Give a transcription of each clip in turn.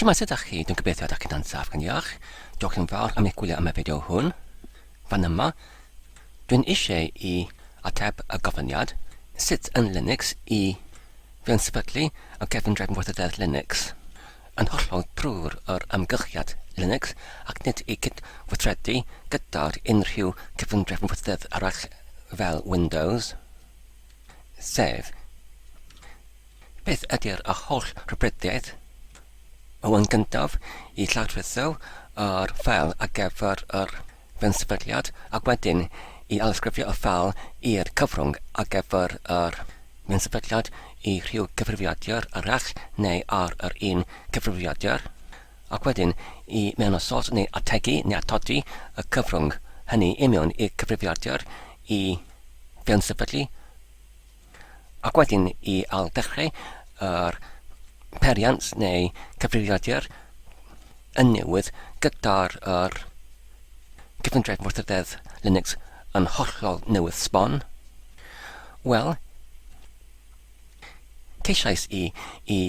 Siwmai, sut ydych chi? Dwi'n gobeithio ydych chi'n ansaf, gan diolch. Diolch yn fawr am eich gwylio am y fideo hwn. Fan yma, dwi'n eisiau i ateb y gofyniad sut yn Linux i fewn sefydlu y gefndrefn weithrededd Linux. Yn hollol drwy'r yr ymgylchiad Linux ac nid i cydweithredu gyda'r unrhyw gefndrefn weithrededd arall fel Windows. sef, beth ydy'r holl rhwydwaith o yn gyntaf i lawrlwytho yr ffeil ar gyfer yr fenysefydliad ac wedyn i alysgrifio y ffeil i'r cyfrwng ar gyfer yr fenysefydliad i rhyw gyfrifiadur arall neu ar yr un cyfrifiadur ac wedyn i mewnosod neu ategu neu atodi y cyfrwng hynny i mewn i'r cyfrifiadur i gan sefydlu ac wedyn i al dechrau yr periant neu cyfrifiadur yn newydd gyda'r yr cyfundref wrthydedd Linux yn hollol newydd sbon, wel, Ceisiais i i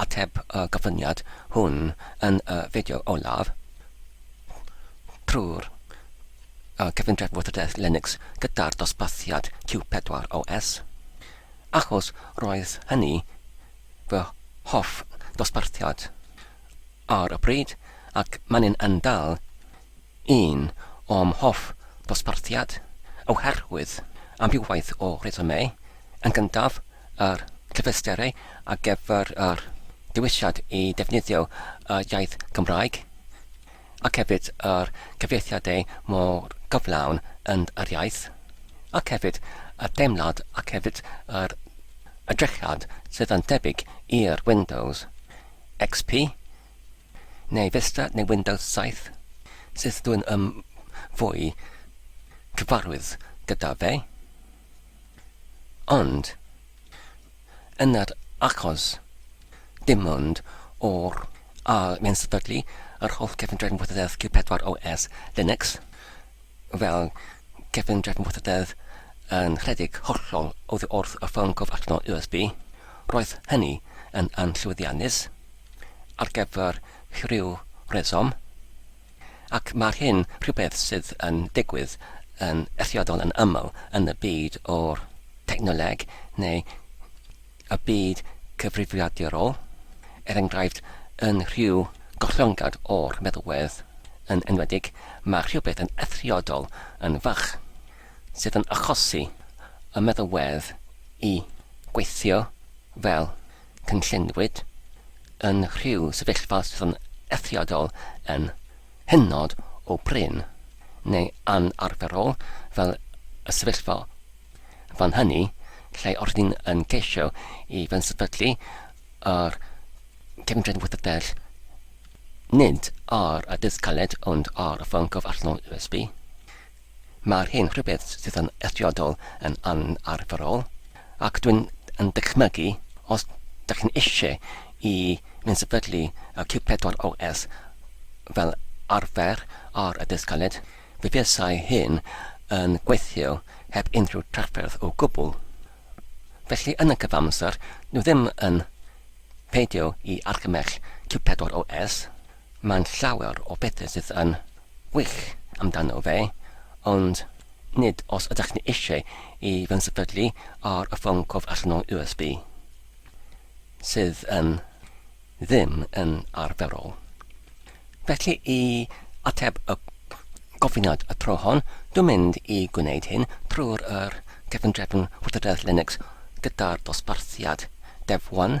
ateb y gofyniad hwn yn y fideo olaf, trwy'r cyfundrefn wybodaeth Linux gyda'r dosbarthiad Q4 OS, achos roedd hynny fy hoff ddosbarthiad ar y pryd ac maen yn dal Un o'm hoff ddosbarthiad, oherwydd amrywiaeth o resymau, yn gyntaf, yr cyfleusterau ar gyfer yr dewisiad i ddefnyddio y iaith Gymraeg, ac hefyd yr cyfieithiadau mor gyflawn yn yr iaith, ac hefyd y teimlad ac hefyd yr edrychiad sydd yn debyg i'r Windows XP, neu Vista neu Windows 7, sut dw i'n ym fwy cyfarwydd gyda fe. Ond, yn yr achos, dim ond o'r ail mae'n sefydlu yr holl gefndrefn wythydedd Q4 OS Linux, fel gefndrefn wythydedd yn rhedeg hollol oddi wrth y ffôn cof allanol USB. Roedd hynny yn anllwyddiannus. ar gyfer rhyw reswm, ac mae'r hyn rhywbeth sydd yn digwydd yn eithriadol yn aml yn y byd o'r technoleg neu y byd cyfrifiadurol, er enghraifft, yn rhyw gollyngiad o'r meddalwedd yn enwedig, mae rhywbeth yn eithriadol yn fach sydd yn achosi y meddalwedd i weithio fel Cynlluniwyd yn rhyw sefyllfa sydd yn eithriadol yn hynod o brin, neu anarferol, fel y sefyllfa fan hynny, lle rydyn ni yn ceisio i fensefydlu yr Cefngryn Wyddeldell nid ar y dydd caled ond ar y ffôn gof allanol USB. Mae hyn rhywbeth sydd yn eithriadol yn anarferol, ac dwi'n yn dychmygu, os da chi'n eisiau i fynd sefydlu y Q4 OS fel arfer ar y dysg galed, fe fuasai hyn yn gweithio heb unrhyw drafferth o gwbl. Felly yn y cyfamser, dwi ddim yn peidio i argymell Q4 OS, mae'n llawer o bethau sydd yn wych amdano fe, ond nid os ydych chi eisiau i fy nsefydlu ar y ffôn cof allan o USB, sydd yn ddim yn arferol. Felly i ateb y gofyniad y tro hon, dwi'n mynd i gwneud hyn trwy'r yr cefndrefn Wybodaeth Linux gyda'r dosbarthiad Dev 1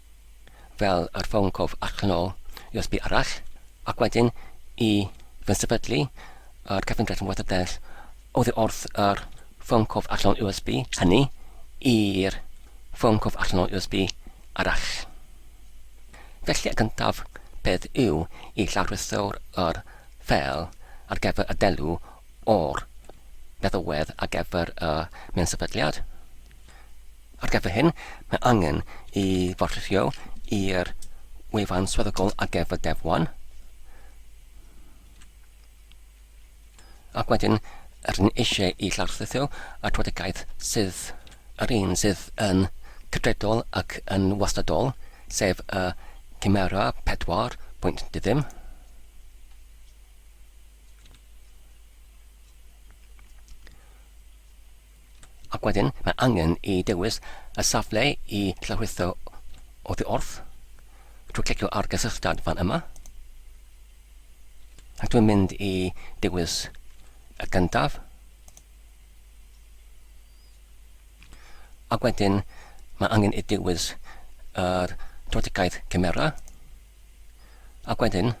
fel yr ffôn cof ac yn ôl USB arall, ac wedyn i fynsefydlu yr cyfundrefn wathadell oddi wrth yr ffôn cof allanol USB hynny i'r ffôn cof allanol USB arall. Felly y gyntaf peth yw i llawryso'r yr ffeil ar gyfer y delw o'r meddalwedd ar gyfer y mynsefydliad. Ar gyfer hyn, mae angen i forffrio i'r wefan swyddogol ar gyfer Dev 1. Ac wedyn, rydyn ni eisiau i lawrlwytho atwedigaeth sydd yr un sydd yn cydredol ac yn wastadol, sef y Chimera 4 pwynt diddim. Ac wedyn, mae angen i dewis y safle i llawrlwytho oddi wrth, trwy clicio ar gysylltiad fan yma. Ac dwi'n mynd i dewis y gyntaf. Ac wedyn, mae angen i dewis yr trodigaeth cymera. Ac wedyn,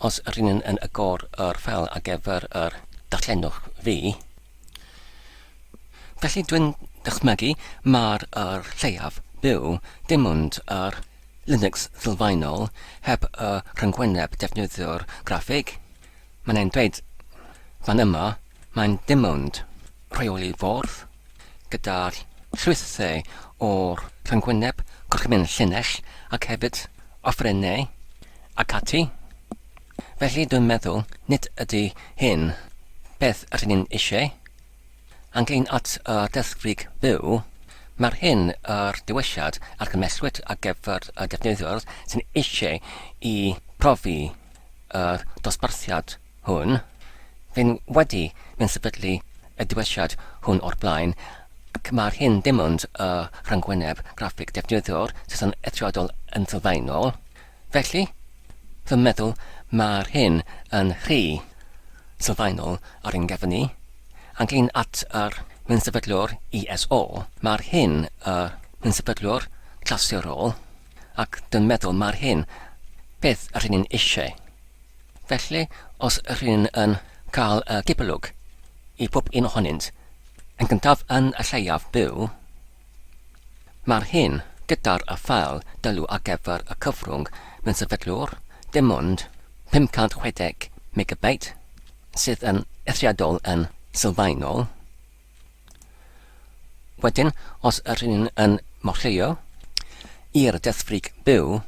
os ry'n ni yn agor yr ffeil ar gyfer yr darllenwch fi, felly dwi'n dychmygu mai'r yr lleiaf byw dim ond yr Linux sylfaenol heb y rhyngwyneb defnyddiwr graffig, mae'n ein dweud fan yma, mae'n dim ond rheoli ffordd, gyda'r ffrwythau o'r rhyngwyneb gorchymyn llinell ac hefyd offerynnau ac ati, felly dwi'n meddwl nid ydy hyn beth yr ni'n eisiau. Ac yn at y deddfwrig fyw, mae'r hyn yr diwylliad argymellwyd ar gyfer y defnyddiwr sy'n eisiau i brofi y dosbarthiad hwn. Fyn wedi mynd sefydlu y diwylliad hwn o'r blaen ac mae'r hyn dim ond y rhyngwyneb graffig defnyddiwr sydd yn eithriadol yn sylfaenol. Felly, fy meddwl mae'r hyn yn rhy sylfaenol ar ein gefn ni. Ac yn at yr mynsefydlwr ISO, mae'r hyn y mynsefydlwr clasurol ac dwi'n meddwl mae'r hyn beth yr hyn ni'n eisiau. Felly, os rŷn yn cael y cipolwg i pob un ohonynt yn gyntaf yn y lleiaf byw, mae'r hyn gyda'r afael dylw ar gyfer y cyfrwng mewn sefydlwr dim ond 560 megabeit, sydd yn eithriadol yn sylfaenol. Wedyn, os ydyn ni'n yn morlleio i'r deddfwrig byw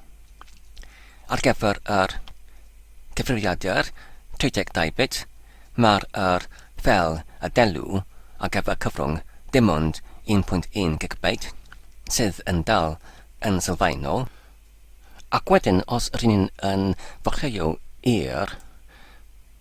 ar gyfer yr cyfrifiadur 32 bit, mae'r yr fel y delw ar gyfer cyfrwng dim ond 1.1 gigabyte, sydd yn dal yn sylfaenol. Ac wedyn, os ydyn ni'n yn morlleio i'r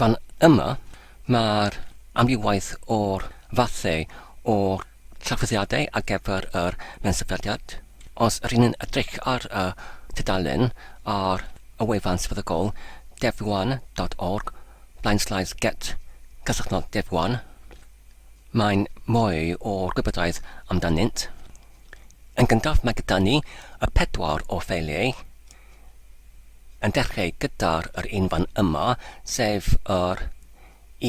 Fan yma, mae'r amrywiaeth o'r fathau o trafodiadau ar gyfer yr mensefydliad. Os rŷn yn edrych ar y tudalen ar y wefan sefydlogol devwan.org blaen slaes get cysylltnod devwan, mae'n mwy o gwybodaeth amdanynt. Yn gyntaf mae gyda ni y pedwar o ffeiliau. yn dechreu gyda'r yr un fan yma, sef yr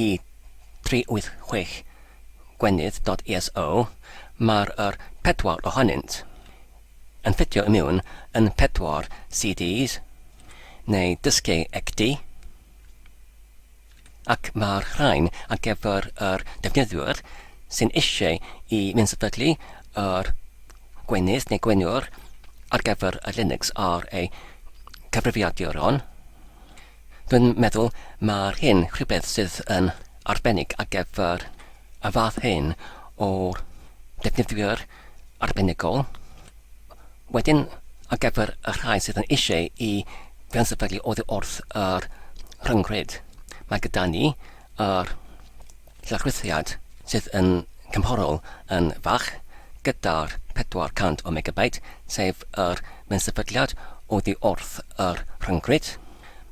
E386 gwenith dot eso, mae'r yr pedwar ohonynt yn ffitio i miwn yn pedwar CDs, neu dysgeu ecdy. ac mae'r rhain ar gyfer yr defnyddiwr sy'n eisiau i fyndsefydlu yr gwenith neu gwenwr ar gyfer y Linux ar ei cyfrifiaduron. Dwi'n meddwl mae'r hyn rhywbeth sydd yn arbennig ar gyfer y fath hyn o defnyddiwr arbenigol. Wedyn, ar gyfer y rhai sydd yn eisiau i gyn-sefydlu oddi wrth yr rhyngrwyd, mae gyda ni yr llawrythiad sydd yn gymhorol yn fach gyda'r 400 o megabyte, sef yr gyn-sefydliad oddi wrth yr rhyngrwyd.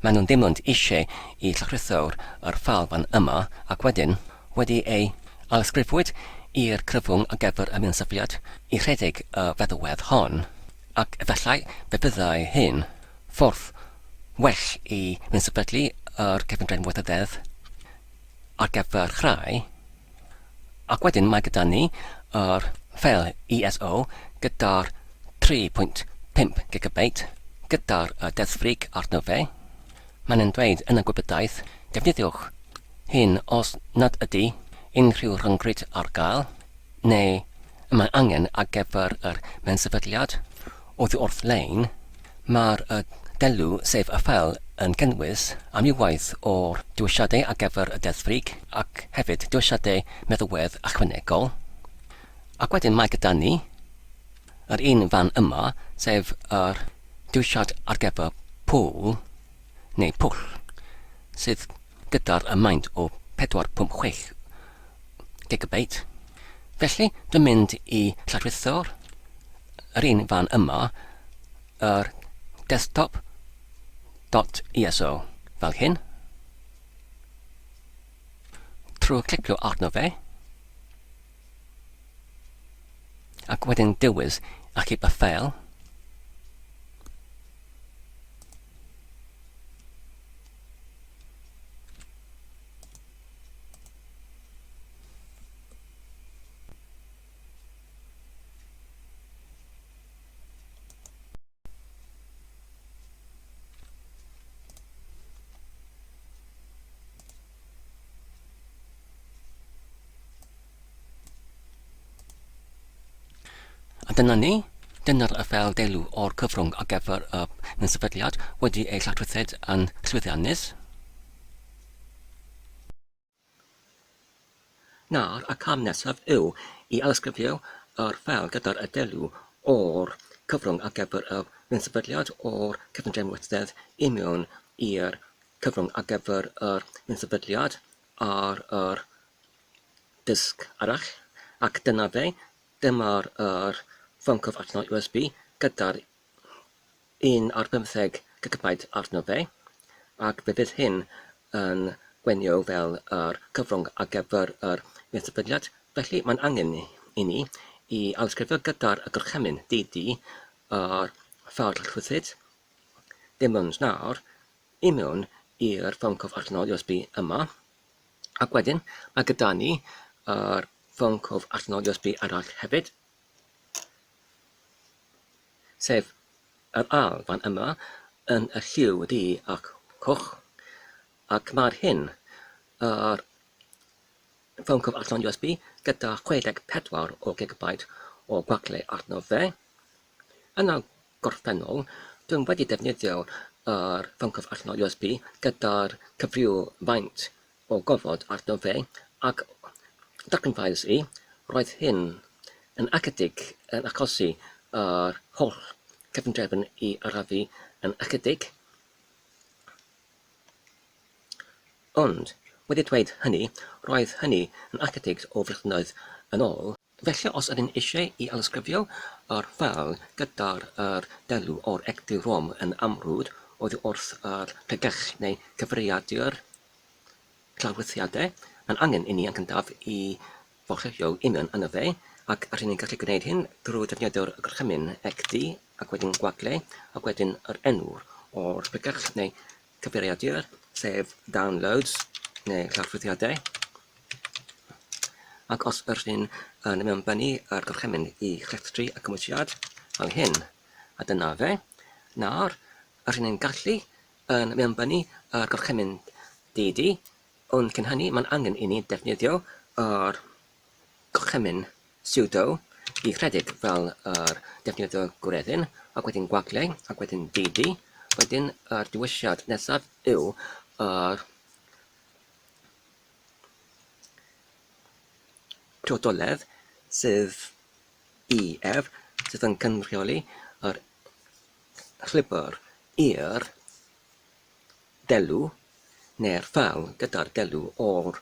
Maen nhw'n ddim ond eisiau i llawrytho'r yr ffeil fan yma ac wedyn, Wedi ei alysgrifwyd i'r cyfwng ar gyfer y mynsafiad i rhedeg y feddalwedd hon, ac efallai fe fyddai hyn ffordd well i fynsefydlu yr Cyfundrefn Weithioddedd ar gyfer Chrau, ac wedyn mae gyda ni yr ffeil ISO gyda'r 3.5 gigabeit gyda'r deddfwrig arno fe, mae'n e'n dweud yn y gwybodaeth, defnyddiwch hyn os nad ydy unrhyw rhyngrwyd ar gael neu y mae angen ar gyfer yr mensefydliad oddi wrth lein, mae'r delw, sef y ffeil, yn cynnwys amrywiaeth o dewisiadau ar gyfer y deddf frig ac hefyd dewisiadau meddalwedd ychwanegol. Ac wedyn mae gyda ni yr un fan yma, sef yr dewisiad ar gyfer pwl neu pwll, sydd gyda'r maint o 456 gigabyte, felly dwi'n mynd i lladrutho'r yr un fan yma, yr desktop dot ISO fel hyn, trwy clicio arno fe, Ac wedyn dewis Achub a Ffeil. A dyna ni, dyna'r fel deilw o'r cyfrwng ar gyfer y sefydliad wedi ei lladruthed yn llwyddiannus. Nawr y cam nesaf yw i ailysgrifio yr ffeil gyda'r adeiladu o'r cyfrwng ar gyfer y bunsefydliad o'r cyfundrefn wrthedd i mewn i'r cyfrwng ar gyfer yr bunsefydliad ar yr disg arall, ac dyna fe, dyma'r yr ffôn cyfrwng allanol USB gyda'r un ar bymtheg gigabyte arno fe, ac fe fydd hyn yn gwenio fel yr cyfrwng ar gyfer yr Meddygfyniad, felly mae'n angen i ni i ailysgrifio gyda'r gorchymyn DD yr ffordd rhyddid, dim ond nawr, i mewn i'r ffôn cof allanol USB yma, ac wedyn mae gyda ni yr ffôn cof allanol USB arall hefyd, sef yr Alban yma yn y lliw du ac coch, ac mae'r hyn yr ffôn cof allan USB gyda 64 o gigabyte o gwagle arno fe. Yn y gorffennol, dwi'n wedi defnyddio yr ffôn cof allan USB gyda'r cyfryw faint O gofod arno fe, ac darganfuais i, roedd hyn yn ychydig yn achosi yr holl gefndrefn i arafu yn ychydig. Ond, wedi dweud hynny, roedd hynny yn ychydig o flynyddoedd yn ôl. Felly os ydym eisiau i alysgrifio yr ffeil gyda'r yr elw o'r egni rhwng yn amrwd oddi wrth yr pregeth neu gyfeiriadur clawriaethau, mae'n angen inni yn gyntaf i forchwylio union yn y fe, ac rŷn ni'n gallu gwneud hyn drwy ddefnyddio'r gorchymyn egni ac wedyn gwagle ac wedyn yr enw o'r pregeth neu Cyfeiriadur, sef downloads neu llofruddiadau, ac os yr hyn yn mewnbynnu ar gorchymyn i chlethdru y cymwysiad fel hyn, a dyna fe, nawr, yr hyn yn gallu yn mewnbynnu ar gorchymyn DD, ond cyn hynny mae'n angen i ni ddefnyddio yr Gorchymyn pseudo i Reddit fel yr defnyddio gwreddyn ac wedyn gwagle ac wedyn dd-d wedyn yr dewisiad nesaf yw yr priodoledd sydd i ef sydd yn cynrychioli yr llwybr i'r delw neu'r ffal gyda'r delw o'r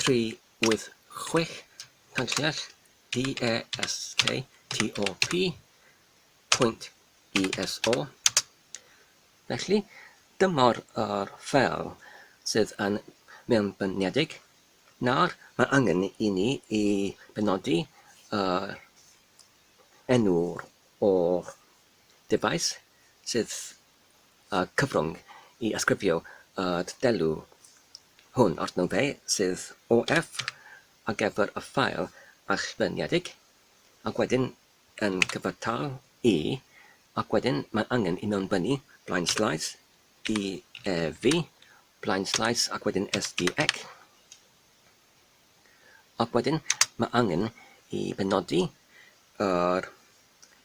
386 Tanllell DESK TOP pwynt ESO. Felly, dyma'r yr ffeil sydd yn mewnbyniedig. Nawr, mae angen i ni i benodi yr enw o'r dyfais sydd y cyfrwng i ysgrifio y delw Hwn o'r nodau sydd OF ar gyfer y ffael allfeirniedig, ac wedyn yn cyfartal i, ac wedyn mae angen i mewnbynnu blaen slaes i EV, blaen slaes ac wedyn SDEC, ac wedyn mae angen i benodi yr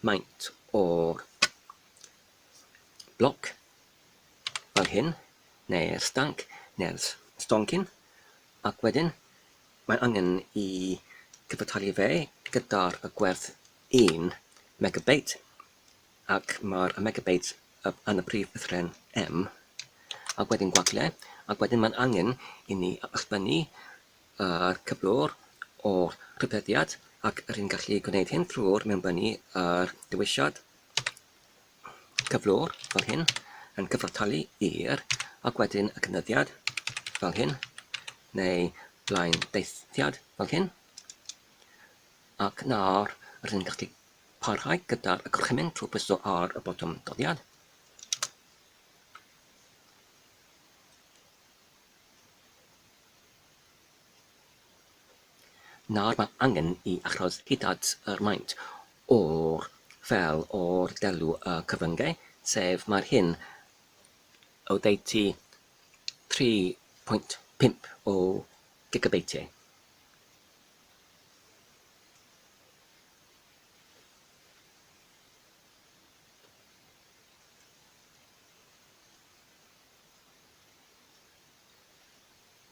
maint o'r bloc fel hyn, neu'r stanc, neu'r stoncyn, ac wedyn mae'n angen i gyfartalu fe gyda'r gwerth un megabeit, ac mae'r megabeit yn y prif ddolen M, ac wedyn gwagle, ac wedyn mae'n angen i ni ysblennu yr cyflwr o'r rhybuddiad, ac rydyn ni'n gallu gwneud hyn drwy'r mewnbynnu yr dewisiad. cyflwr fel hyn yn cyfartalu i'r ac wedyn y cynyddiad fel hyn neu blaen deithiad fel hyn ac nawr rydyn ni'n gallu parhau gyda'r gorchymyn trwy pwyso ar y botwm doddiad Nawr mae angen i achos hyd-at yr maint o'r fel o'r delw y cyfryngau, sef mae'r hyn oddeutu 3.5 o gigabeitiau.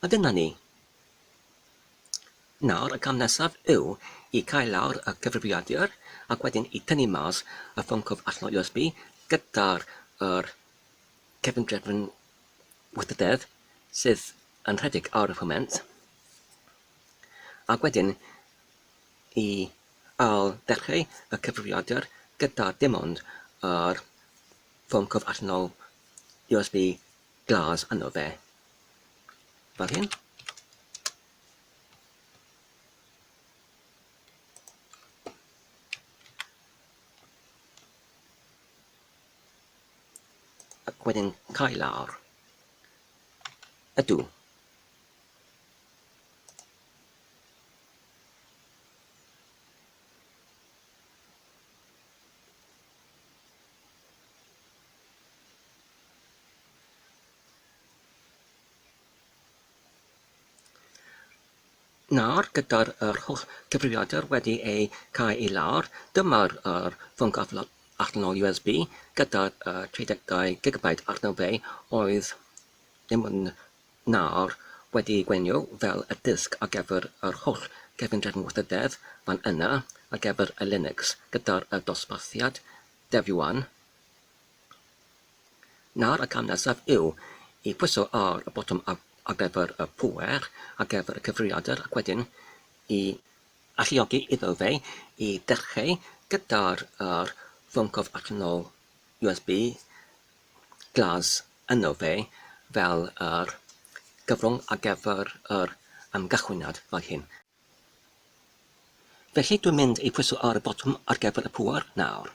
A dyna ni. Nawr y cam nesaf yw i cau lawr y cyfrifiadur ac wedyn i tynnu mas y ffôn cwf allan o USB gyda'r yr cefn drefn wythydedd sydd yn rhedeg ar y foment ac wedyn i ail ddechrau y cyfrifiadur gyda dim ond yr ffôn cof allanol USB glas yno fe, fel hyn. Ac wedyn cael lawr. Ydw. Nawr, gyda'r yr holl gyfrifiadur wedi eu cael i lawr, dyma'r yr ffôn gafl allanol USB gyda'r uh, 32 gigabyte arno fe oedd ddim yn Nawr, wedi ei gwenio fel y dysg ar gyfer yr holl gefndir ngwrthdref fan yna ar gyfer y Linux gyda'r y dosbarthiad dev-yuan, nawr y cam nesaf yw i phwyso ar y botwm ar gyfer y pŵer ar gyfer y cyfrifiadur ac wedyn i alluogi iddo fe i ddechreu gyda'r yr fwncwf allanol USB Glas yno fe fel yr gyfrwng ar gyfer yr ymgychwyniad fel hyn. Felly dwi'n mynd i phwyso ar y botwm ar gyfer y pŵer nawr.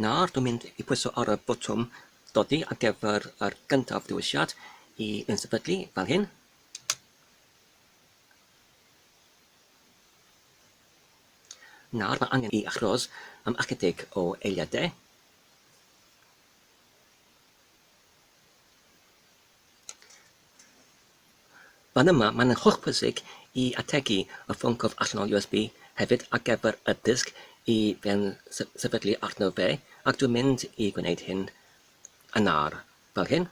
Nawr dwi'n mynd i pwyso ar y botwm dodi ar gyfer yr gyntaf dewisiad i yn sefydlu fel hyn. Nawr mae angen i achros am ychydig o eiliadau. Fan yma, mae'n hollbwysig i ategu y ffôn cwrdd allanol USB hefyd ar gyfer y disg i fewn sefydlu arno fe, ac dwi'n mynd i gwneud hyn yn nawr, fel hyn.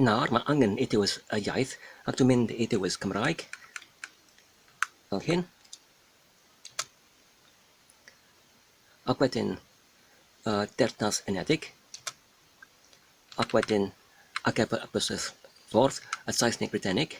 Nawr mae angen i dewis y iaith ac dwi'n mynd i dewis Cymraeg fel hyn ac wedyn y Deyrnas Unedig ac wedyn ar gyfer y busnes ffordd y Saesneg Brydeinig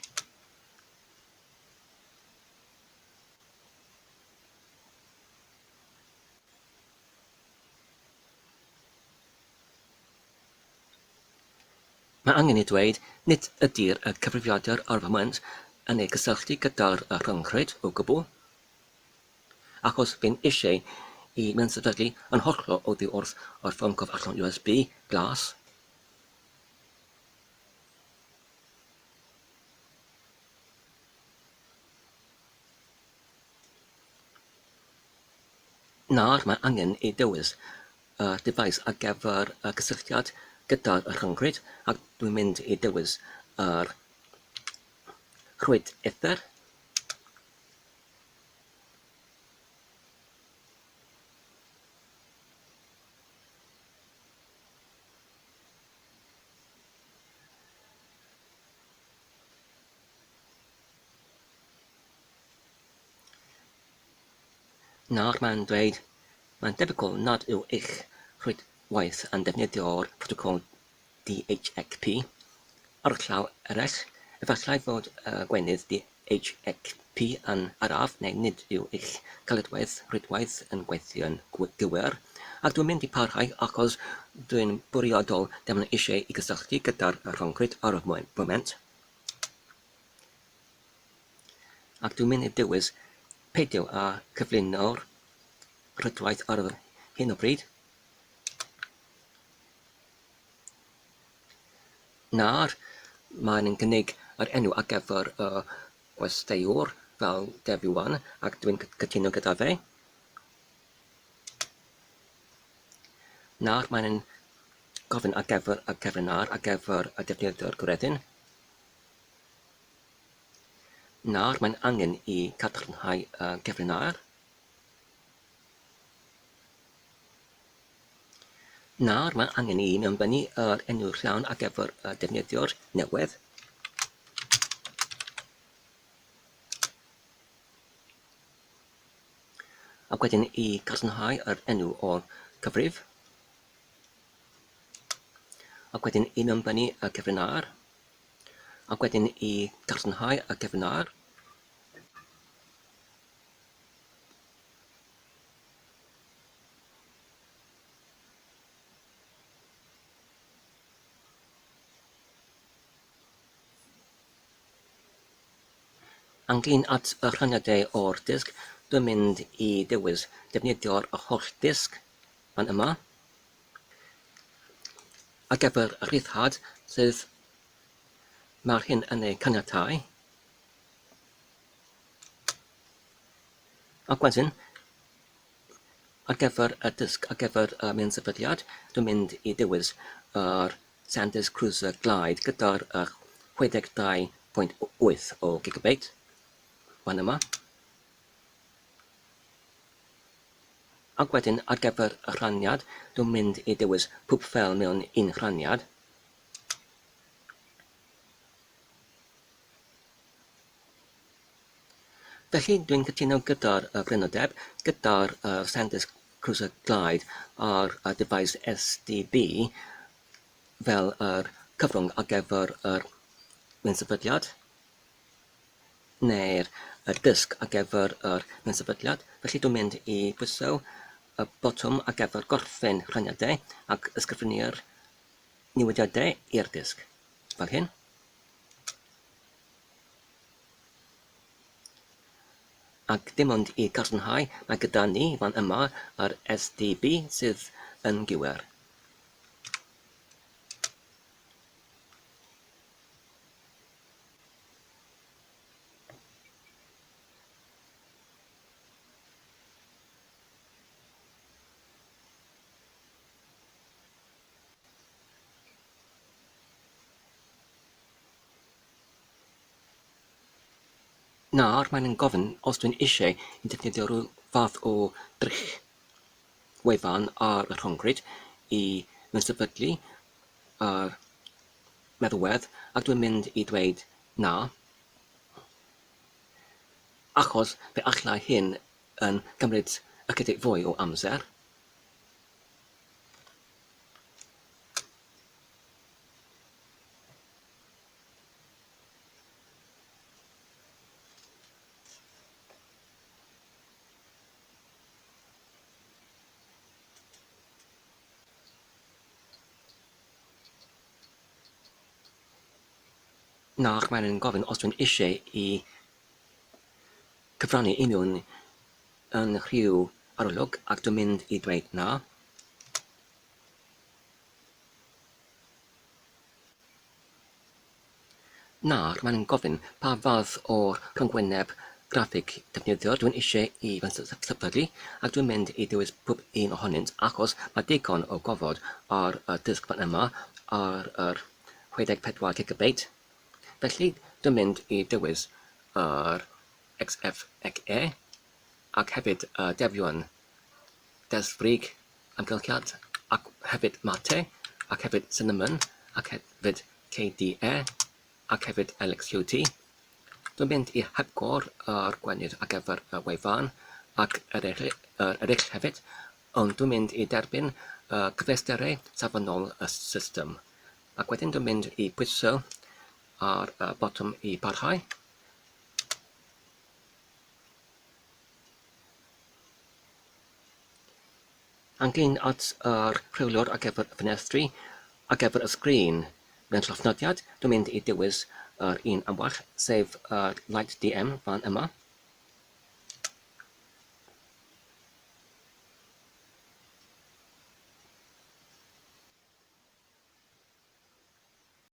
Mae angen ei ddweud, nid ydy'r cyfrifiadur ar y foment yn ei gysylltu gyda'r rhyngrwyd o gwbl, achos fe'm eisiau i mi ansefydlu yn hollol oddi wrth yr ffôn cof allan USB glas. Nawr mae angen ei dewis. y dyfais ar gyfer y cysylltiad gyda'r rhyngrwyd ac dwi'n mynd i dewis yr rhwyd ether. Nawr mae'n dweud, Mae'n debygol nad yw eich rhwydwaith yn defnyddio'r protocol DHCP. Ar y llaw eraill, efallai fod y gwenith DHCP yn araf neu nid yw eich caledwedd rhwydwaith yn gweithio'n gywir, ac dwi'n mynd i parhau achos dwi'n bwriadol ddim eisiau i gysylltu gyda'r rhyngrwyd ar y foment. Ac dwi'n mynd i dewis peidio â chyflwyno'r rhwydwaith ar hyn o bryd. Nawr, mae'n cynnig yr enw ar gyfer y gwesteiwr fel Debbie Wan, ac dwi'n cytuno gyda fe. Nawr mae'n gofyn ar gyfer y cyfrinair ar gyfer y defnyddwr gwredyn. Nawr mae'n angen i gadarnhau y gefrinair. Nawr mae'n angen i mewnbynnu yr enw rhawn ar gyfer y defnyddiwr newydd. ac wedyn i gadarnhau yr enw o'r cyfrif ac wedyn i mewnbynnu y cyfrif ar Ac wedyn i gadarnhau y gefndir. Ynglŷn at y rhaniadau o'r disg, dwi'n mynd i ddewis defnyddio'r holl ddisg fan yma. Ar gyfer y rhyddhad sydd mae'r hyn yn ei caniatáu, ac wedyn ar gyfer y dysg, ar gyfer y miansefydliad, dwi'n mynd i dewis yr Sanders Cruiser Glide gyda'r 62.8 o gigabeit, fan yma. Ac wedyn ar gyfer y rhaniad, dwi'n mynd i dewis pob ffeil mewn un rhaniad. Felly, dwi'n cytuno gyda'r freinodeb, gyda'r SanDisk Cruiser Glide a'r dyfais SDB fel yr cyfrwng ar gyfer yr un sefydliad. neu'r dysg ar gyfer yr ansefydliad, felly dwi'n mynd i bwyso y botwm ar gyfer gorffen rhaniadau ac ysgrifennu'r newidiadau i'r dysg, fel hyn. Ac dim ond i gadarnhau, mae gyda ni fan yma yr SDB sydd yn gywir. Nawr mae'n yn gofyn os dwi'n eisiau defnyddio rhyw fath o drych wefan ar y rhyngrwyd i fy nsefydlu ar meddwedd ac dwi'n mynd i dweud na, achos fe allai hyn yn cymryd ychydig fwy o amser. Nac mae'n yn gofyn os dwi'n eisiau i cyfrannu i mewn yn rhyw arolwg ac dwi'n mynd i dweud na. Nawr mae'n gofyn pa fath o rhyngwyneb graffig defnyddiwr dwi'n eisiau i fy nhypylu ac dwi'n mynd i ddewis pob un ohonynt achos mae digon o gofod ar y dysg fan yma ar yr 64 gigabeit. Felly dwi'n mynd i ddewis yr XFXE ac hefyd y defion desfrig amgylchiad ac hefyd mate ac hefyd cinnamon ac hefyd KDE ac hefyd LXQT. Dwi'n mynd i hepgor yr gwenith ar gyfer y wefan ac yr eraill hefyd, ond dwi'n mynd i derbyn y cyfleusterau safonol y system. Ac wedyn dwi'n mynd i pwyso ar y botwm i barhau. Angin at yr rheolwr ar gyfer y ffenestri, ar gyfer y sgrin. Mewn llofnodiad, dwi'n mynd i dewis yr un am well, sef y Light DM fan yma.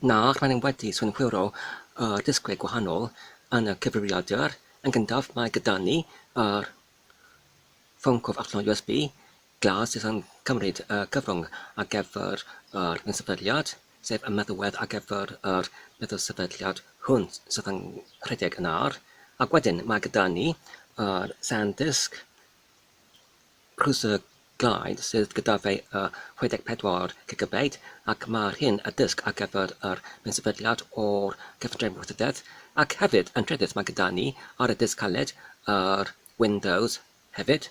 Na, rydyn ni wedi synhwyro y disgwyl gwahanol yn y cyfrifiadur. Yn gyntaf, mae gyda ni yr ffôn cof allan o USB, Glas sydd yn cymryd y cyfrwng ar gyfer yr un sefydliad, sef y meddwedd ar gyfer yr meddwl sefydliad hwn sydd yn rhedeg yn ar, ac wedyn mae gyda ni yr SanDisk Cruiser Glide sydd gyda fe y 64 gigabyte ac mae'r hyn y disg ar gyfer yr un sefydliad o'r cyfundrefn wrthdreth ac hefyd yn trydydd mae gyda ni ar y disg caled yr Windows hefyd.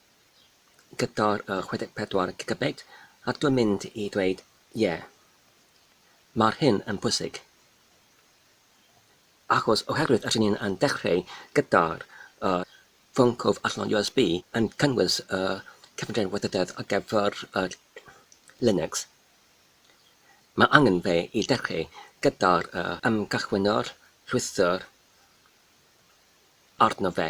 gyda'r 64 gigabit ac dwi'n mynd i dweud ie, mae'r hyn yn bwysig achos oherwydd rydyn ni yn dechrau gyda'r ffôn cof allan USB yn cynnwys y cyfundrefn weithrededd ar gyfer Linux, mae angen fe i dechrau gyda'r ymgychwynwr rhwystr arno fe.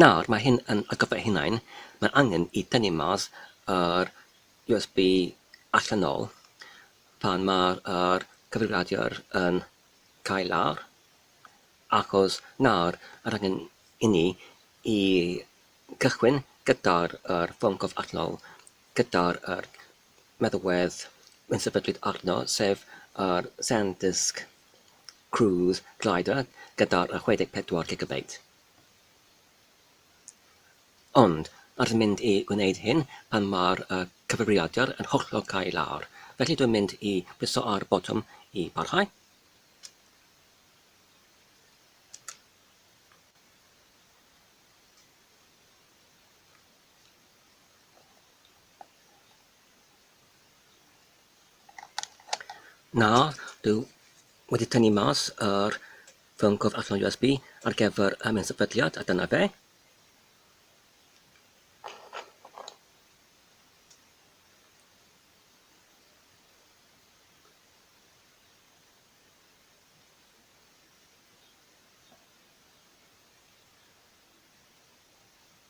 Nawr, mae hyn yn atgoffa ei hunain, mae angen i tynnu mas yr USB allan ôl pan mae'r yr cyfrifiadur yn cael lawr, achos nawr yr angen i ni i gychwyn gyda'r yr ffôn cof allanol gyda'r yr meddalwedd yn sefydlyd arno, sef yr Sandisk Cruise Glider gyda 64 gigabyte. Ond, rydw i'n mynd i wneud hyn pan mae'r cyfrifiadur yn hollol cau lawr, felly dwi'n mynd i briso ar y botwm i barhau. Na, dwi wedi tynnu mas yr ffôn cof allan USB ar gyfer y mynd sefydliad a dyna fe.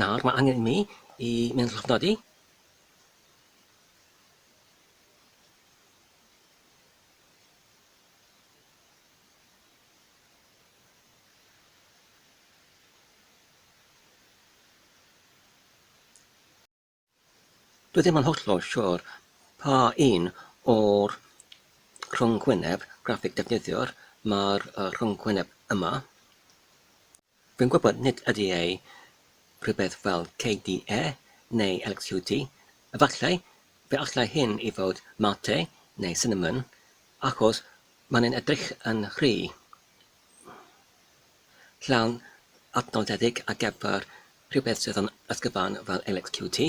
Nawr mae angen i mi i mynd llofnodi. Dwi ddim yn hollol siwr pa un o'r rhyngwyneb graffig defnyddiwr mae'r rhyngwyneb yma. Fi'n gwybod nid ydy e rhywbeth fel KDE neu LXQt, efallai, fe allai hyn i fod Mate neu Cinnamon, achos mae'n edrych yn rhy. llawn adnoddedig ar gyfer rhywbeth sydd yn ysgyfawn fel LXQT.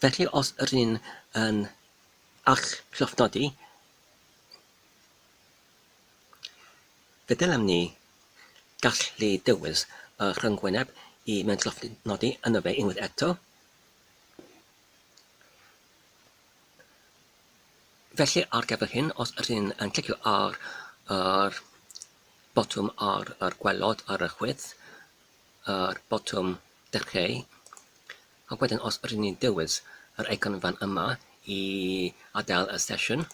Felly os rydyn yn eich llofnodi, fe ddylem ni gallu dewis y rhyngwyneb i mewn llofnodi yno fe unwaith eto. Felly ar gyfer hyn, os ydyn yn clicio ar yr botwm ar yr gwelod ar y chwith, yr botwm dechreu, a wedyn os ydyn ni'n dewis yr eicon fan yma i adael y sesiwn,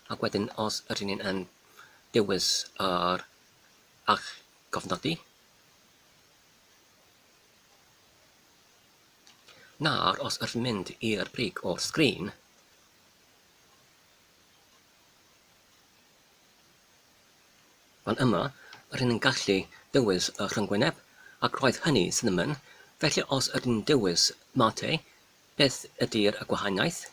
a wedyn os ydyn ni'n yn dewis yr ach gofnodi, Nawr os wrth mynd i'r brig o'r sgrin. Fan yma, rŷn yn gallu dewis y rhyngwyneb, ac roedd hynny, cinnamon, felly os ydyn dewis mate, beth ydy'r y gwahaniaeth?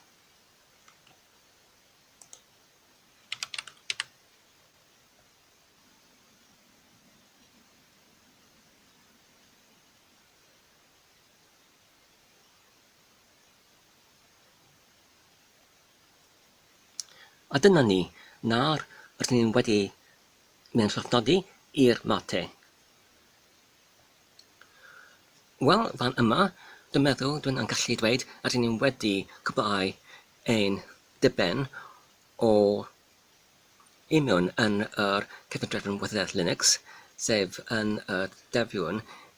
A dyna ni, nawr rydyn ni wedi mynd llofnodi i'r mate. Wel, fan yma, dwi'n meddwl dwi'n yn gallu dweud rydyn ni wedi cwblhau ein diben o imiwn yn yr cefnodrefn Wyddeleg Linux, sef yn y defiwn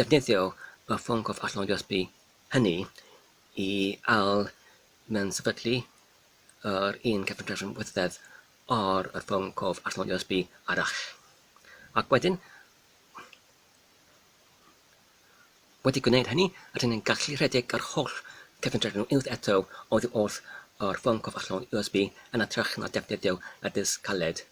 defnyddio y ffôn cof allanol USB hynny i ail mensefydlu yr un cefngrefn wythddedd ar y ffôn cof allanol USB arall. Ac wedyn, wedi gwneud hynny, rydyn ni'n gallu rhedeg yr holl cefngrefn unwaith eto oddi wrth yr ffôn cof allanol USB yn ytrach na defnyddio y disg caled.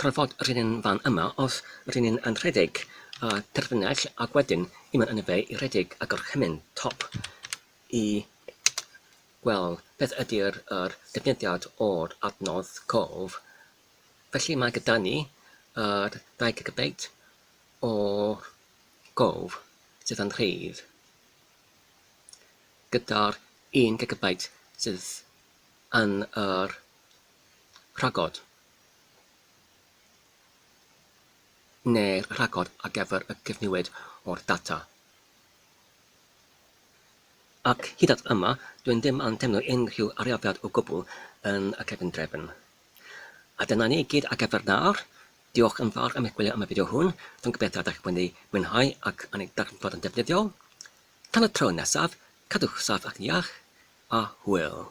Tra fod rhyn yn fan yma os rhyn yn yn rhedeg a terfynell ac wedyn yma yn y fe i rhedeg a gorchymyn top i wel beth ydy'r yr defnyddiad o'r adnodd cof felly mae gyda ni yr 2 gigabeit o gof sydd yn rhydd gyda'r 1 gigabeit sydd yn yr rhagod. neu'r rhagor ar gyfer y cyfnewid o'r data. Ac hyd at yma, dwi ddim yn teimlo unrhyw arafiad o gwbl yn y cefndrefn. A dyna ni i gyd ar gyfer nawr. Diolch yn fawr am eich gwylio am y fideo hwn, dwi'n gobeithio y dach wedi mwynhau ac yn ei darganfod yn defnyddiol. Tan y tro nesaf, cadwch saff ac yn iach, a hwyl!